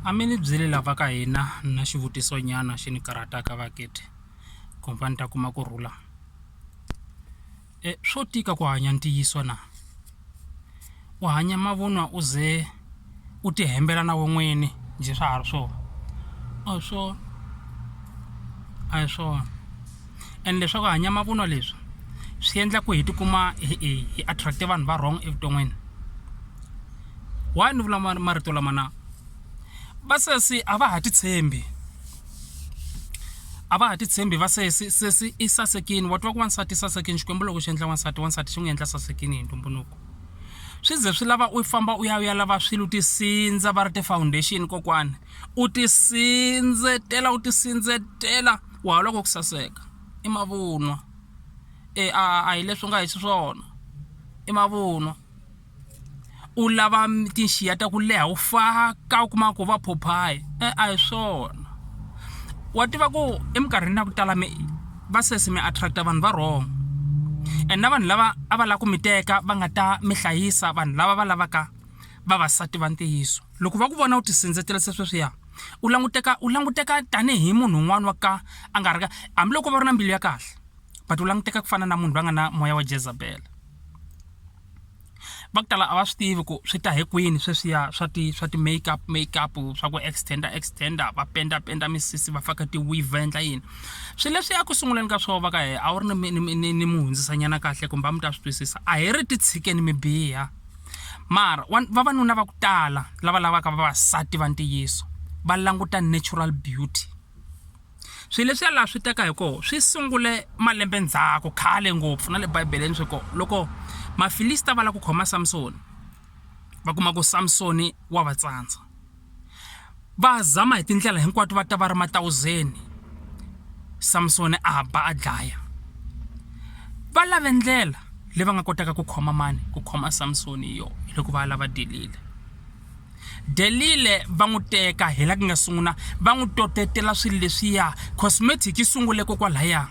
A mi ni byeli lava ka hina na xivutiso nyana xi ni karhataka vaakiti khampani ta kuma ku rhula swo tika ku hanya ntiyiso na u hanya mavunwa u ze u ti hembela na we n'wini njhe swa ha ri swona a hi swona a hi swona. and leswaku hanya mavunwa leswi swi endla ku hi tikuma hi attract vanhu va wrong evuton'wini why ni vula marito lama na va sesi a va ha titshembi a va ha titshembi va sesi sesi i sasekini wa twa ku wansati i sasekini xikwembu loko xi endla wansati wansati xi n'wi endla sasekini hi ntumbuluko swi ze swi lava u famba u ya u ya lava swilo u tisindza va ri ti-foundation kokwana u tisindzetela u tisindzetela Ku halwa ko ku saseka i mavunwa. E a a hi leswi u nga hi xiswona i mavunwa u lava tinxiya ta ku leha u faka u kuma ku va phuphayi e a hi swona wa tiva ku eminkarhini ya ku tala mi va sesi mi attract vanhu va wrong and na vanhu lava a va lava ku mi teka va nga ta mi hlayisa vanhu lava va lavaka vavasati va ntiyiso loko va ku vona u ti sindzela se sweswiya. u languteka u languteka tanihi munhu un'wana wa ka a nga ri ka hambiloko va ri na mbilu ya kahle but u languteka ku fana na munhu loyi a nga na moya wa jezabele va ku tala a va swi tivi ku swi ta hi kwini sweswiya swa ti swa ti make up make up swa ku extender extender va penda penda misisi va faka tiweave va endla yini swilo leswi a ku sunguleni ka swona va ka hehe a wu ri ni ni ni ni mu hundzisanyana kahle kumbe a mi ta swi twisisa a hi ri ti tshikeni mi biha Mara, vavanuna va ku tala lava lavaka vavasati va ntiyiso va languta natural beauty. Swilo leswiya laha swi teka hi kona swi sungule malembe ndzhaku khale ngopfu na le Bibele-ni swi kona. Loko Mafilista va lava ku khoma Samsoni, va kuma ku Samsoni wa va tsandza. va zama hi tindlela hinkwato va ta va ri matawuzeni Samsoni a ba a dlaya va lave ndlela leyi va nga kotaka ku khoma mani ku khoma Samsoni hi yona loko va lava delile delile va n'wi teka hi la ku nga sungula va n'wi totetela swilo leswiya cosmetic yi sungule kokwalaya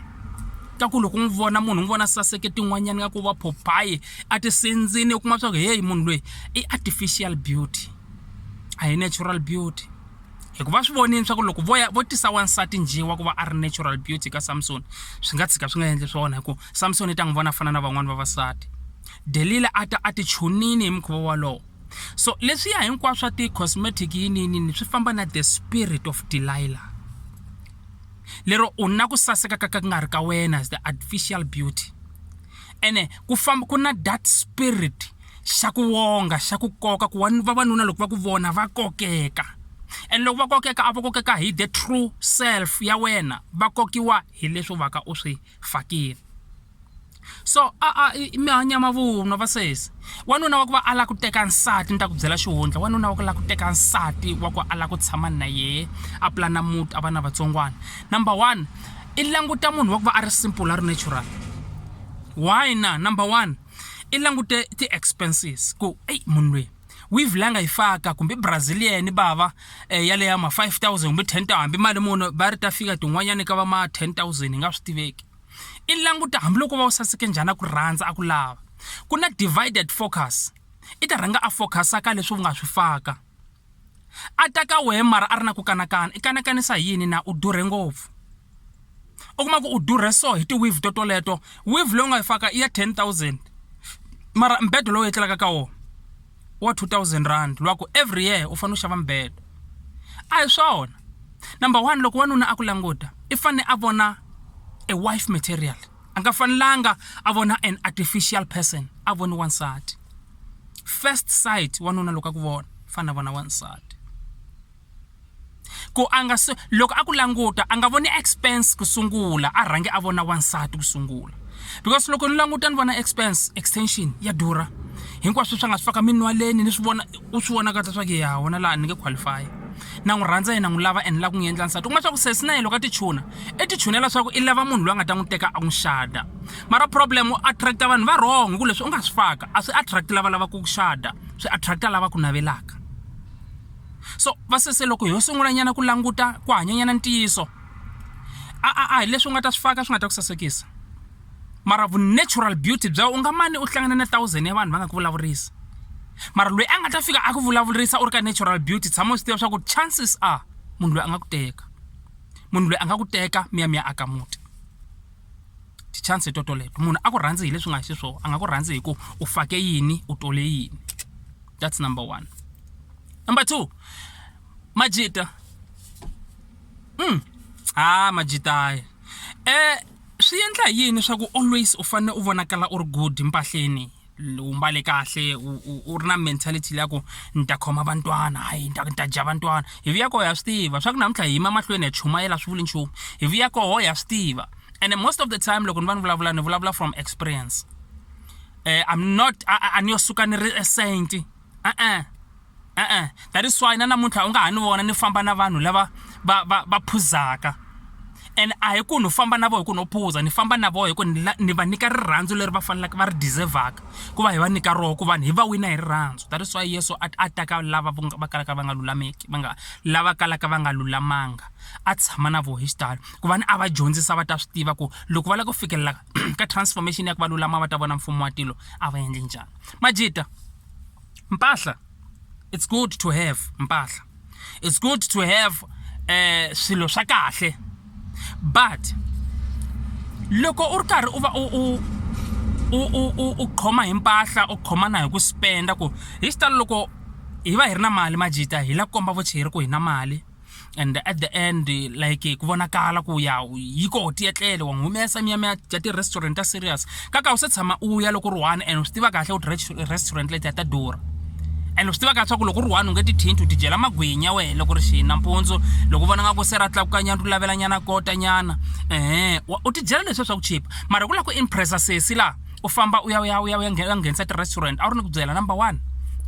ka ku loko n'wi vona munhu n'wi vona saseke tin'wanyana nga ku va phopayi a tisindzini u kuma swa ku heyi munhu loyi i artificial beauty a hi natural beauty hikuva swi vonini swa ku loko vo ya vo tisa wansati njhe wa ku va a ri natural beauty ka samsoni swi nga tshika swi nga endli swona hikuva samsoni i ta n'wi vona fana na van'wani vavasati delila a ta a ti chunini hi mukhuva wolowo so leswiya hinkwaswo swa ti-cosmetic yininini swi famba na the spirit of delila lero u na ku saseka ka ka ku nga ri ka wena as the artificial beauty ene ku famba ku na that spirit xa ku wonga xa ku koka ku vavanuna loko va ku vona va kokeka and loko va kokeka a va kokeka hi the true self ya wena va kokiwa hi leswi va ka u swi fakile so a a mi hanya mavunwa va sesi wanuna wa ku va a lava ku teka nsati ni ta ku byela xihundla wanuna wa ku lava ku teka nsati wa ku a lava ku tshama na yehe a pulana muti a va na vatsongwana number one i languta munhu wa ku va a ri simple a ri natural why na number one i langute ti-expenses ku eyi munhu loyi weave la nga yi faka kumbe brazilian bava eh, ya leya ma 5000 kumbe 10000 hambi mali muni va ri ta fika tin'wanyana ka va ma 10000 hi nga swi tiveki i languta hambiloko va wu saseke njhani a ku rhandza a ku lava ku na divided focus i ta rhanga a focusa ka leswi u nga swi faka a ta ka wehe mara a ri na ku kanakana i kanakanisa hi yini na u durhe ngopfu u kuma ku u durhe so hi ti-wave to toleto wave leyi u nga yi faka i ya ten thousand mara mbedo lowu etlelaka ka wona wa two thousand rand lwa ku every year u fanele u xava mbedo a hi swona number one loko wanuna a ku languta i fanele a vona a wife material a nga fanelanga a vona an artificial person a voni wansati first sight wanuna loko a ku vona fana vona wansati ku a nga loko a ku languta a nga voni expense ku sungula a rhange a vona wansati ku sungula because loko ni languta ni vona expense extension ya durha hinkwaswo swa nga swi faka minwaleni ni swi vona u swi vona kahle swa ku ya wona laha ni nge qualify na n'wi rhandza yena n'wi lava and la ku n'wi endla nsati u kuma swa ku sesi na yena loko a tichuna i tichunela swa ku i lava munhu loyi a nga ta n'wi teka a n'wi xada mara problem u attract-a vanhu va wrong hi ku leswi u nga swi faka a swi attract lava lavaka ku xada swi attract-a lava ku navelaka so va sese loko ho sungulanyana ku languta ku hanyanyana ntiyiso a a a hi leswi u nga ta swi faka swi nga ta ku sasekisa mara vu-natural beauty bya u nga mani u hlangana na thousand ya vanhu va nga ku vulavurisa mara loyi a nga ta fika a ku vulavurisa u ri ka natural beauty tshama u swi tiva swa ku chances are munhu loyi a nga ku teka munhu loyi a nga ku teka mi ya mi ya aka muti ti-chance to toleto munhu a ku rhandzi hi leswi nga xiswona a nga ku rhandzi hi ku u fake yini u tole yini that's number one number two majita mm. ha majita um Swi endla hi yini swa ku always u fanele u vonakala u ri good mpahleni u mbale kahle u ri na mentality leya ku ni ta khoma vantwana hayi ni ta ni ta dya vantwana hi vuya koho ha swi tiva swa ku namuntlha hi yima mahlweni ya chumayela swi vuli nchumu hi vuya koho ha swi tiva and most of the time loko ni va ni vulavula ni vulavula from experience um I'm not a ni yo suka ni ri e saint. E-e, e-e that is why na namuntlha u nga ha ni vona ni famba na vanhu lava va va va phuzaka and a hi ku ni famba na vona hi ku no phuza ni famba na vona hi ku ni ni va nyika rirhandzu leri va faneleke va ri deserve-aka ku va hi va nyika rona ku va hi va wina hi rirhandzu that is why Yeso a a ta ka lava va kalaka va nga lulameki va nga lava kalaka va nga lulamanga a tshama na vona hi xitalo ku va ni a va dyondzisa va ta swi tiva ku loko va lava ku fikelela ka transformation ya ku va lulama va ta vona mfumo wa tilo a va endle njhani. Majita, mpahla it's good to have mpahla it's good to have eh swilo swa kahle but loko u ri karhi u va u u u u u khoma hi mpahla u khoma na hi ku spenda ku hi xitalo loko hi va hi ri na mali majita hi la komba vucheri ku hi na mali and at the end like ku vonakala ku ya yi koho tiyetlele wa n'wi humesa miya miya ya ti-restaurant ta serious ka ka u se tshama u ya loko ri one and u swi tiva kahle ku restaurant leti ya ta durha and u swi tivaka leswaku loko u ri one u nge ti thinti u ti dyela magwinya wehe loko ri xini nampundzu loko u vona nga ku se ra tlakukanyana u lavelanyana kotanyana ehe u ti dyela leswi swa ku chipa mara ku lava ku impressa sesi laha u famba u ya u ya u ya u ya nghenisa ti-restaurant a wu ri ni ku byela number one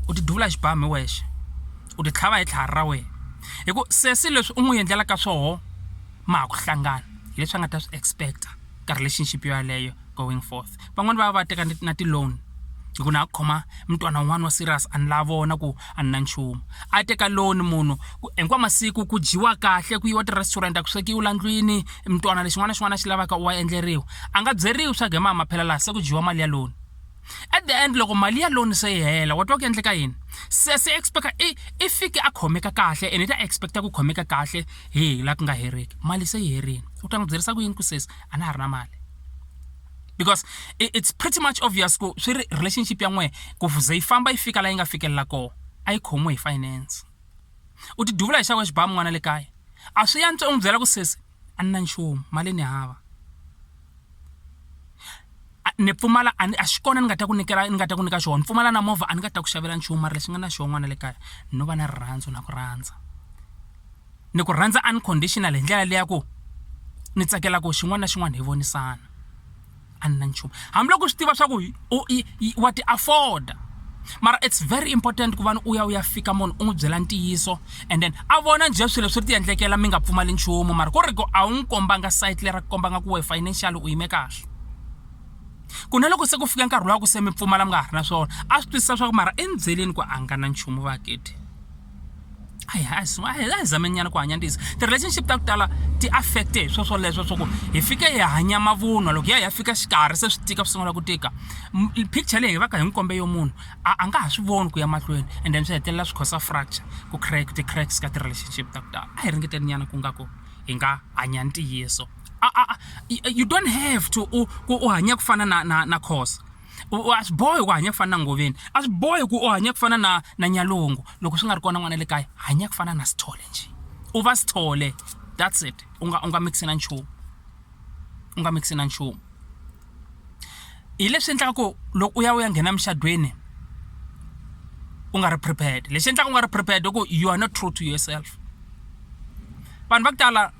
u ti duvula xibamu hi wexe u ti tlhava hi tlhari ra wena hi ku sesi leswi u n'wi endlelaka swoho ma ha ku hlangana hileswi a nga ta swi expecta ka relationship yo yaleyo going forth van'wani va va va teka na ti-loan hi ku na ku khoma mutwana un'wana wa serious a ni la vona ku a ni na nchumu a teka loan munhu ku hinkwa masiku ku dyiwa kahle ku yiwa ti-restaurant a ku swekiwi la ndlwini mutwana lexin'wana na xin'wana a xi lavaka u wa endleriwa a nga byeriwi swa ku hi maha maphela laha se ku dyiwa mali ya loan at the end loko mali ya loan se yi hela wa twa ku endleka yini se se expecta i i fike a khomeka kahle ene i ta expecta ku khomeka kahle hi la ku nga heriki mali se yi herile u ta n'wi byerisa ku yini ku sesi a na ha ri na mali because it's pretty much obvious ku swi ri relationship ya n'wehe ku ze yi famba yi fika la yi nga fikelela kona a yi khomiwe hi finance u ti duvula hi xavo xibamu n'wana le kaya a swi yantswa u n'wi byela ku sesi a ni na nchumu mali ni hava ni pfumala a ni a xi kona ni nga ta ku nyikela ni nga ta ku nyika xona ni pfumala na movha a ni nga ta ku xavela nchumu mara lexi nga na xona n'wana le kaya no va na rirhandzu na ku rhandza ni ku rhandza unconditional hi ndlela leya ku ni tsakela ku xin'wana na xin'wana hi vonisana. a ni na nchumu hambiloko u swi tiva swa ku wa ti afforda mara it's very important ku vana u ya u ya fika munhu u n'wi byela ntiyiso and then a vona njhe swilo swi ri ti endlekela mi nga pfumali nchumu mara ku ri ku a wu n'wi kombanga site leri a ku kombanga ku we financial u yime kahle ku na loko se ku fika nkarhi lowa ku se mi pfumala mi nga ha ri na swona a swi twisisa swa ku mara endzheleni ku a nga na nchumu vakete a hi a hi zameni nyana ku hanya ntiyiso ti-relationship ta ku tala ti affecte hi swo swoleswo swa ku hi fike hi hanya mavunwa loko hi ya hi ya fika xikarhi se swi tika swi sungula ku tika picture leyi hi va ka hi n'wi kombe yo munhu a a nga ha swi voni ku ya mahlweni and then swi hetelela swi khosa fracture ku crack ti-cracks ka ti-relationship ta ku tala a hi ringeteni nyana ku nga ku hi nga hanya ntiyiso you don't have to u hanya ku fana na na na khosa a swi bohi ku hanya ku fana na ngoveni a swi bohi ku u hanya ku fana na na nyalungu loko swi nga ri kona n'wana le kaya hanya ku fana na sithole njhe u va sithole that's it u nga u nga mixi na nchumu u nga mixi na nchumu hi leswi endlaka ku loko u ya u ya nghena muxadweni u nga ri prepared lexi endlaka u nga ri prepared i ku you are not true to yourself vanhu va ku tala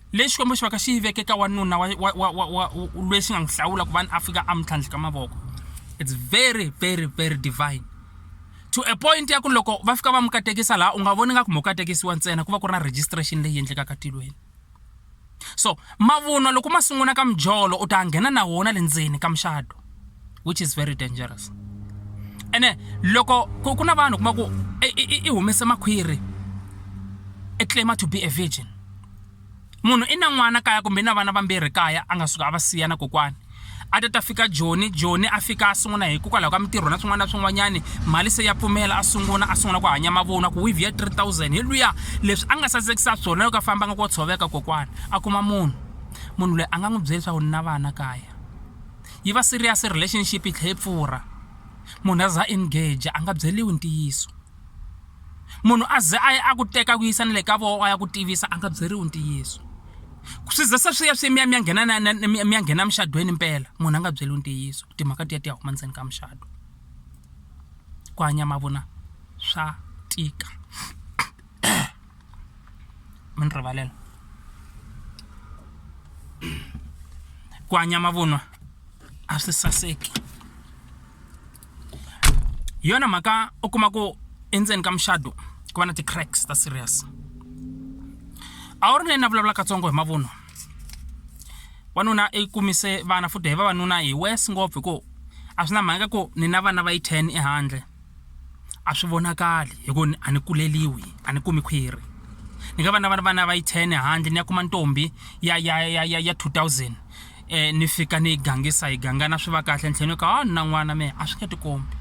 Leyi Xikwembu xi vaka xi yi veke ka wanuna wa wa wa wa wa lweyi xi nga n'wi hlawula ku va ni a fika a mi tlhandlhika mavoko it's very very very divine to a point ya ku loko va fika va mi katekisa laha u nga voni nga ku mo katekisiwa ntsena ku va ku ri na registration leyi endlekaka tilweni so mavunwa loko ma sungula ka mijolo u ta nghena na wona le ndzeni ka muxado which is very dangerous ene loko ku ku na vanhu kuma ku i humese makhwiri i claima to be a virgin munhu i na n'wana kaya kumbe i na vana vambirhi kaya a nga suka a va siya na kokwani a ta ta fika joni joni a fika a sungula hikokwalaho ka mintirho na swin'wana na swin'wanyani mali se ya pfumela a sungula a sungula ku hanya mavona ku wivi ya 3000 hi luya leswi a nga sasekisa swona loko a fambanga ku tshoveka kokwana a kuma munhu munhu loyi a nga n'wi byela leswaku ni na vana kaya yi va serious relationship yi tlhe yi pfurha munhu a za engage a nga byeriwi ntiyiso munhu a ze a ya a ku teka ku yisa ni le ka vona a ya ku tivisa a nga byeriwi ntiyiso swi ze se swi ya swi mi ya mi ya nghena na mi ya nghena muxadweni mpela munhu a nga byeriwi ntiyiso timhaka ti ya ti ya huma ndzeni ka muxado ku hanya mavona swa tika mi ni rivalela ku hanya mavunwa a swi saseki hi yona mhaka u kuma ku endzeni ka muxado ku va na ti-cracks ta serious a wu ri leyi na vulavula katsongo hi mavunwa wanuna i kumise vana futhi hi vavanuna hi wes ngopfu hi ku a swi na mhaka ku ni na vana va yi ten ehandle a swi vonakali hi ku a ni kuleriwi a ni kumi khwiri ni nga va na vana vana va yi ten handle ni ya kuma ntombi ya ya ya ya ya two thousand um ni fika ni yi gangisa hi gangana swi va kahle ntlhela ni ka a ni na n'wana mehe a swi nge tikombi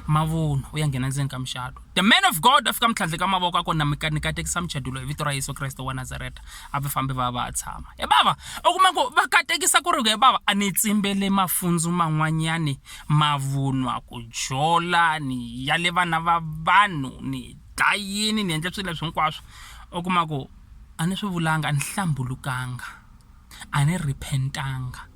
mavunwa u ya nghena ndzeni ka muxato the man of god a fika mitlhandle ka mavoko a ku na mika ni katekisa muchado loyi hi vito ra yesu kreste wa nazareta a va fambi va va a tshama e bava u kuma ku va katekisa ku ri ku e bava a ni tsimbele mafundzo man'wanyani mavunwa, ku jola, ni ya le vana va vanhu, ni dlayini, ni endle swilo leswi hinkwaswo. U kuma ku, a ni swi vulanga, a ni hlambulukanga, a ni repent-anga,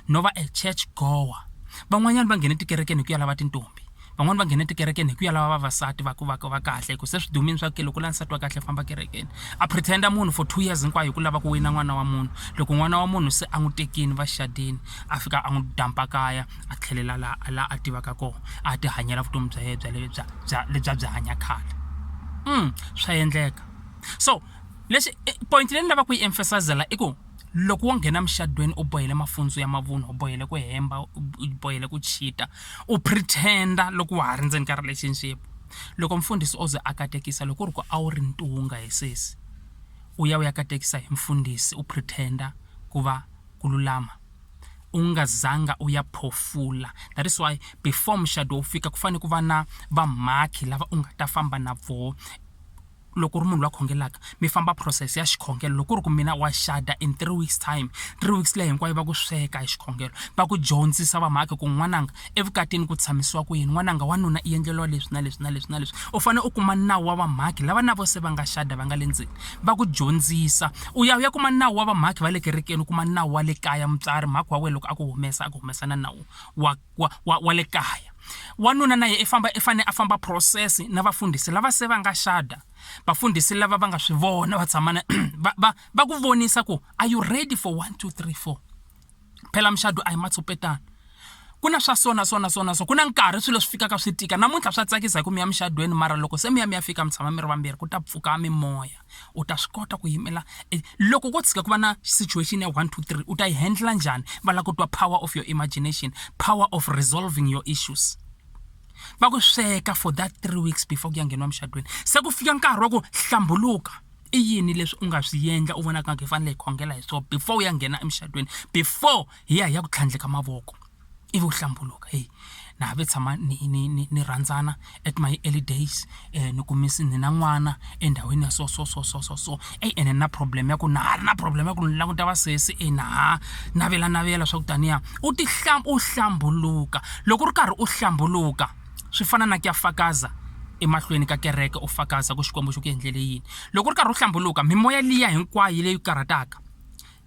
no va a church goer. Van'wanyana va nghene tikerekeni hi ku ya lava tintombhi, van'wani va nghene tikerekeni hi ku ya lava vavasati va ku va va kahle, hi ku se swi dumile swa ku ke loko u lava nsati wa kahle famba kerekeni. A pretend-a munhu for two years hinkwayo hi ku lava ku wina n'wana wa munhu, loko n'wana wa munhu se a n'wi tekile va xadile, a fika a n'wi dump-a kaya. a tlhelela laha a laha a tivaka kona a ti hanyela vutomi bya yena bya le bya bya lebyi a byi hanya khale swa endleka so leswi point leyi ni lavaka ku yi emphasizela i ku loko wo nghena emucatwini u bohile mafundzo ya mavunwa u bohile ku hemba u bohile ku cheater u pretend loko wa ha ri ndzeni ka relationship loko mfundhisi o ze a katekisa loko ku ri ku a wu ri ntunga hi sesi u ya u ya katekisa hi mfundhisi u pretend ku va ku lulama. u nga zanga u ya phofula that is why before muxado wu fika ku fanele ku va na vamhakhi lava u nga ta famba na voho loko u ri munhu la khongelaka mi famba process ya xikhongelo loko ku ri ku mina wa xada in three weeks time three weeks leyi hinkwayo va ku sweka hi xikhongelo va ku dyondzisa vamhakhi ku n'wananga. Evukatini ku tshamisiwa ku yini? N'wananga wa nuna i endleriwa leswi na leswi na leswi na leswi. U fanele u kuma nawu wa vamhakhi lava na vona se va nga xada, va nga le ndzeni, va ku dyondzisa. U ya u ya kuma nawu wa vamhakhi va le kerekeni, u kuma nawu wa le kaya, mutswari, mhakhi wa wena loko a ku humesa a ku humesa na nawu wa wa wa wa le kaya. Wanuna na yena i famba i fanele a famba process na vafundhisi lava se va nga xada, vafundhisi lava va nga swi vona va tshama na va va va ku vonisa ku are you ready for one, two, three, four. phela mucato a hi matshopetana ku na swa sona sona sona so ku na nkarhi swilo swi fikaka swi tika namuntlha swa tsakisa hi ku mi ya mucadweni mara loko se mi ya mi ya fika mi tshama mi ri vambirhi ku ta pfuka mimoya u ta swi kota ku yimela e, loko ko tshika ku va na situation ya one two three u ta yi handla njhani va lava ku twa power of your imagination power of resolving your issues va ku sweka for that three weeks before ku ya ngheniwa mucadweni se ku fika nkarhi wa ku hlambuluka i yini leswi u nga swi yendla u vonaka nga ku hi fanele hi khongela hi swona before u ya nghena emucatweni before hi ya hi ya ku tlhandleka mavoko ivi u hlambuluka heyi na ha ve tshama ni ni ni ni rhandzana at my early days ni kumisa ni na n'wana endhawini ya so so so so so so eyi ene ni na problem ya ku na ha ri na problem ya ku ni languta vasesi e na ha navelanavela swa ku taniya u u hlambuluka loko u ri karhi u hlambuluka. swi fana na ku ya fakaza emahlweni ka kereke u fakaza ku xikwembu xi ku endlele yini loko u ri karhi u hlambuluka mimoya liya hinkwayo leyi karhataka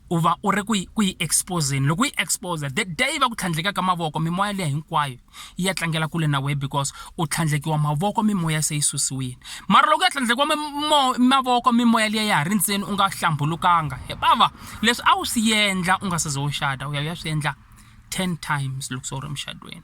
u va u ri ku yi ku yi exposeni loko yi exposa the day va ku tlhandlekaka mavoko mimoya liya hinkwayo yi ya tlangela kule na wehe because u tlhandlekiwa mavoko mimoya se yi susiwile mara loko ya tlhandlekiwa mavoko mimoya liya ya ha ri ntseni u nga hlambulukanga he bava leswi a wu swi endla u nga se ze u xada u ya u ya swi endla ten times loko se u ri emuxadweni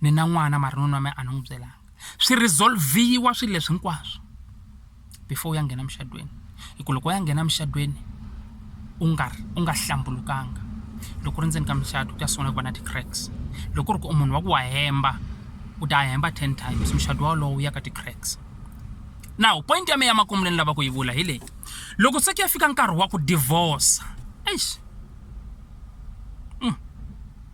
ni na n'wana mara nuna wa mina a ni n'wi byelanga swi resolve-iwa swilo leswi hinkwaswo before u ya nghena emucatweni hi ku loko u ya nghena emucatweni u nga u nga hlambulukanga loko u ri ndzeni ka mucato ku ta sungula ku va na ti-cracks loko ku ri ku u munhu wa ku wa hemba u ta hemba ten times mucato wolowo wu ya ka ti-cracks now point ya mina ya makumu leyi ni lavaka ku yi vula hi leyi loko se ku ya fika nkarhi wa ku divorce eish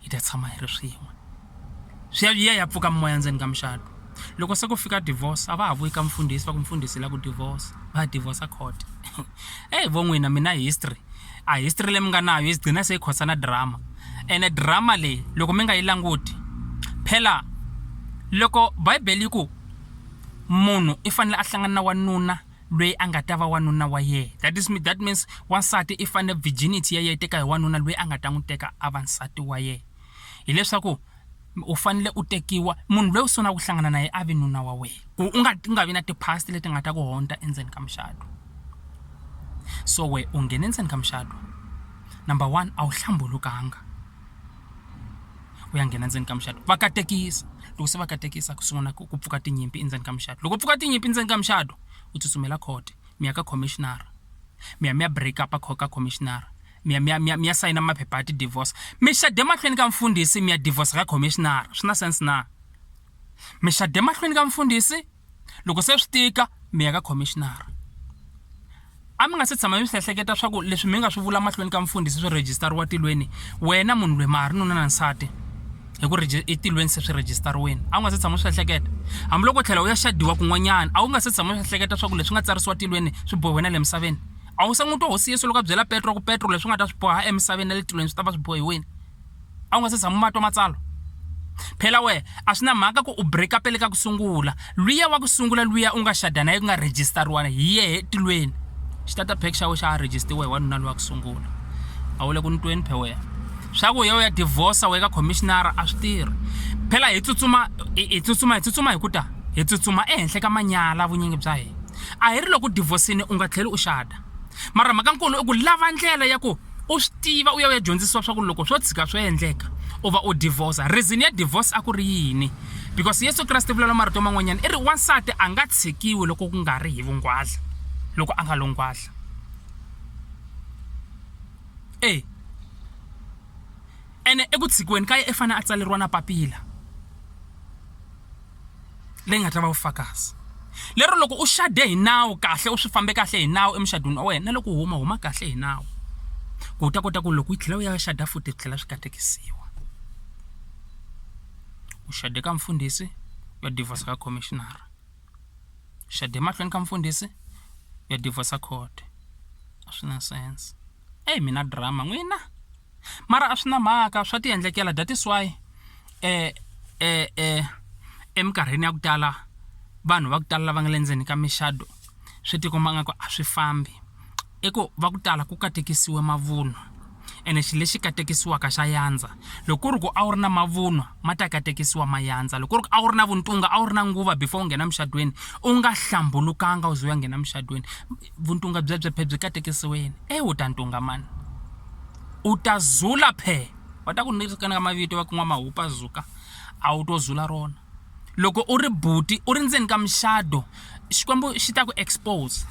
hi ta tshama hi ri swin'we swi ya yi ya ya pfuka mimoya ndzeni ka mucato loko se ku fika divorce a va ha vuyi ka mfundhisi va ku mfundhisi la ku divorce va divorce court eyi vo n'wina mina history a history leyi mi nga nayo yi gcina se yi khosa na drama ene drama leyi loko mi nga yi languti phela loko bible yi ku munhu i fanele a hlangana na wanuna lweyi a nga ta va wanuna wa yena. That is, that means wansati i fanele virginity ya yena teka hi wanuna lweyi a nga ta n'wi teka a va nsati wa yena. Hi leswaku u fanele u tekiwa munhu lweyi u sungulaka ku hlangana na yena a vi nuna wa wena, ku u nga u nga vi na ti-past leti nga ta ku hundza endzeni ka mucato. So wena u nghene endzeni ka mucato number one a wu hlambulukanga. ku ya nghena ndzeni ka mucato va katekisa loko se va katekisa ku sungula ku pfuka tinyimpi endzeni ka mucato loko pfuka tinyimpi endzeni ka mucato u tsutsumela court mi ya ka commissioner mi ya mi ya break up ka commissioner mi ya mi ya mi ya mi ya sayina maphepha ya ti-divorce mi xede emahlweni ka mfundhisi mi ya divorce ka commissioner swi na sense na mi xede emahlweni ka mfundhisi. loko se swi tika mi ya ka commissioner a mi nga se tshama mi swi ehleketa swa ku leswi mi nga swi vula mahlweni ka mfundhisi swi rejistariwa tilweni wena munhu lweyi ma ha ri nuna na nsati hi ku etilweni se swi rejistariweni a wu nga se tshama swi ehleketa hambiloko u tlhela u ya xadiwa kun'wanyana a wu nga se tshama swi ehleketa swa ku leswi nga tsarisiwa tilweni swi bohe wena le misaveni a wu se n'wi twa hosi yesu loko a byela petro ku petro leswi nga ta swi boha emisaveni na le tilweni swi ta va swi bohiwini a wu nga se tshama u ma twa matsalwa phela wehe a swi na mhaka ku u break up le ka ku sungula luya wa ku sungula luya u nga xada na ye ku nga rejistariwana hi yehe etilweni xitata pack xa we xa ha rejistiwe hi wanuna luya ku sungula a wu le ku ni tweni phe wehe swa ku ye u ya divorce we ka commissionara a swi tirhi phela hi tsutsuma hi tsutsuma hi tsutsuma hi ku ta hi tsutsuma ehenhla ka manyala vunyingi bya hina a hi ri loko u divorcini u nga tlheli u xada mara mhaka nkulu i ku lava ndlela ya ku u swi tiva u ya u ya dyondzisiwa swa ku loko swo tshika swo endleka u va u divorce reason ya divorce a ku ri yini because yesu kreste vulavula marito man'wanyana i ri wansati a nga tshikiwi loko ku nga ri hi vungwadla loko a nga lo ngwadla e ene eku tshikiweni ka ye i fanele a tsaleriwa na papila leyi nga ta va vufakazi lero loko u xade hi nawu kahle u swi fambe kahle hi nawu emuxadwini wa wena na loko u huma huma kahle hi nawu ku u ta kota ku loko yi tlhela u ya xada futhi swi tlhela swi katekisiwa u xade ka mfundhisi u ya divorce ka commissioner u xade emahlweni ka mfundhisi u ya divorce court a swi na sense eyi mina drama n'wina. mara a swi na mhaka swa ti endlekela that is why um um um eminkarhini ya ku tala vanhu va ku tala lava nga le ndzeni ka mixado swi tikomba nga ku a swi fambi i ku va ku tala ku katekisiwe mavunwa ene xilo lexi katekisiwaka xa yandza loko ku ri ku a wu ri na mavunwa ma ta katekisiwa ma yandza loko ku ri ku a wu ri na vuntunga a wu ri na nguva before u nghena muxadweni u nga hlambulukanga u ze u ya nghena muxadweni vuntunga byebye phe byi katekisiweni e u ta ntunga mani u ta zula phe va ta ku nirikanaka mavito va kun'wa mahupa zuka a wu to zula rona loko u ri buti u ri ndzeni ka muxado xikwembu xi ta ku expose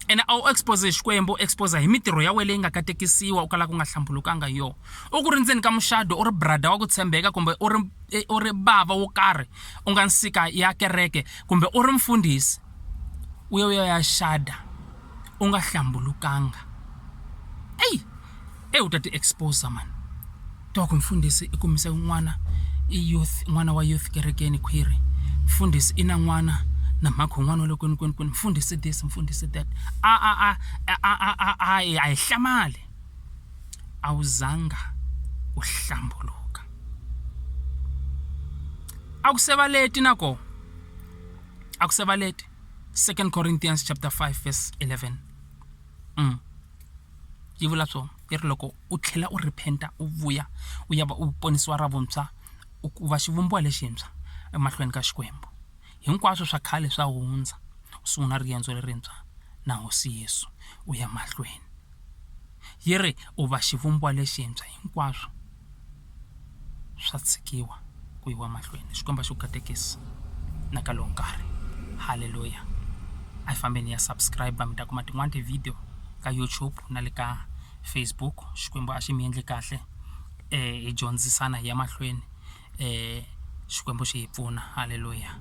ene a wu expose hi xikwembu expose hi mitirho ya wena leyi nga katekisiwa u kala ku nga hlambulukanga hi yona u ku ri ndzeni ka muxado u ri brada wa ku tshembeka kumbe u ri e, u ri bava wo karhi u nga nsika ya kereke kumbe u ri mfundhisi u ya u ya ya xada u nga hlambulukanga eyi eyi u ta ti expose mhani tiva ku mfundhisi i kumise n'wana i youth n'wana wa youth kerekeni khwiri mfundhisi i na n'wana na mhakhi wu n'wana wa le kwini kwini kwini mfundhisi this mfundhisi that a a a a a a a a hi a hi hlamali a wu zanga u hlambuluka a ku se va leti na koho. a ku se va leti 2 corinthians chapter 5 verse 11 mm. yi vula so yi ri loko u tlhela u rephenta u vuya u ya va u ponisiwa ra vuntshwa u va xivumbiwa lexintshwa emahlweni ka xikwembu hinkwaswo swa khale swa hundza u sungula riendzo lerintshwa na hosi yesu u ya mahlweni yi ri u va xivumbiwa lexintshwa hinkwaswo swa tshikiwa ku yiwa mahlweni Xikwembu a xi ku katekisi na ka lowu nkarhi haleluya a hi fambeni hi ya subscribe mi ta kuma tin'wani ti-video ka YouTube na le ka Facebook Xikwembu a xi mi endle kahle hi dyondzisana hi ya mahlweni Xikwembu xi hi pfuna haleluya.